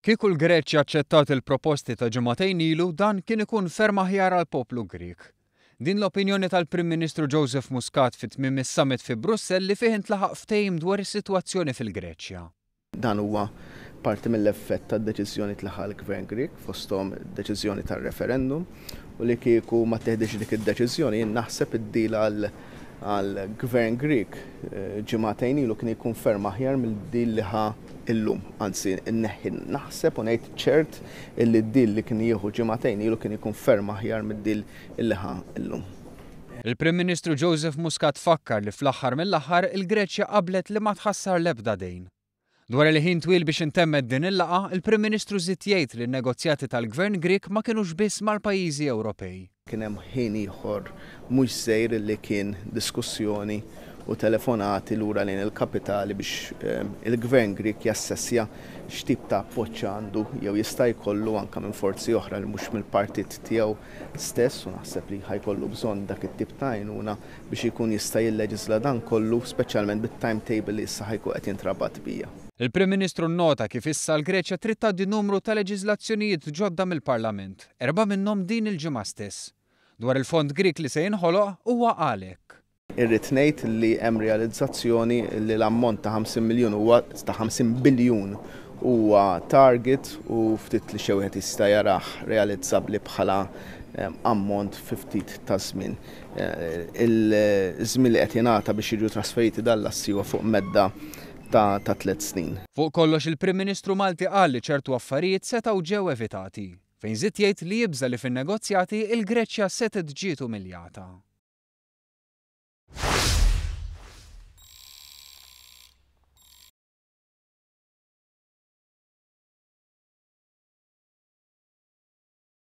Kieku l-Greċja aċċettat il-proposti ta' ġimagħtejn ilu dan kien ikun ferm aħjar għall-poplu Grieg. Din l-opinjoni tal-Prim Ministru Joseph Muscat fi tmiem is-summit fi Brussell li fih intlaħaq ftehim dwar is-sitwazzjoni fil-Greċja. Dan huwa parti mill-effett tad-deċiżjonijiet li ħa l-Gvern Grieg, fosthom id-deċiżjoni tar-referendum, u li kieku ma ttieħditx dik id-deċiżjoni jien naħseb id-deal għal għall-Gvern Grieg ġimagħtejn ilu kien jkun ferm aħjar mill deal li ħa illum. Anzi, inneħħi naħseb u ngħid ċert illi d-deal li kien jieħu ġimagħtejn ilu kien jkun ferm aħjar mid-deal illi ħa illum. Il-Prim Ministru Joseph Muscat fakkar li fl-aħħar mill-aħħar il-Greċja qablet li ma tħassar l-ebda dejn. Dwar il-ħin twil biex intemmet din il-laqgħa, il-Prim Ministru żied jgħid li n-negozjati tal-Gvern Grieg ma kinux biss mal-pajjiżi Ewropej. Kien hemm ħin ieħor mhux żgħir li kien diskussjoni u telefonati lura lejn il-kapitali biex il-Gvern Grieg jassessja x'tip ta' appoġġ għandu jew jista' jkollu anke minn forzi oħra li mhux mill-partit tiegħu stess u naħseb li ħa jkollu bżonn dak it-tip ta' għajnuna biex ikun jista' jilleġisla dan kollu, speċjalment bit-timetable li issa ħa jkun qed jintrabat bija. Il-Prim Ministru nnota kif issa l-Greċja trid tgħaddi numru ta' leġislazzjonijiet ġodda mill-Parlament, erbgħa minnhom din il-ġimgħa stess. Dwar il-Fond Grieg li se jinħoloq, huwa qal hekk. Irrid ngħid li hemm realizzazzjoni li l-ammont ta' 50 miljun huwa, ta' 50 biljun, huwa target u ftit li xejn wieħed jista' jarah realizzabbli bħala ammont fi ftit ta' żmien. Il-żmien li qed jingħata biex jiġu trasferiti dan l-assi huwa fuq medda ta' tliet snin. Fuq kollox il-Prim Ministru Malti qal li ċertu affarijiet setgħu ġew evitati, fejn żied jgħid li jibża' li fin-negozjati l-Greċja setgħet ġiet umiljata.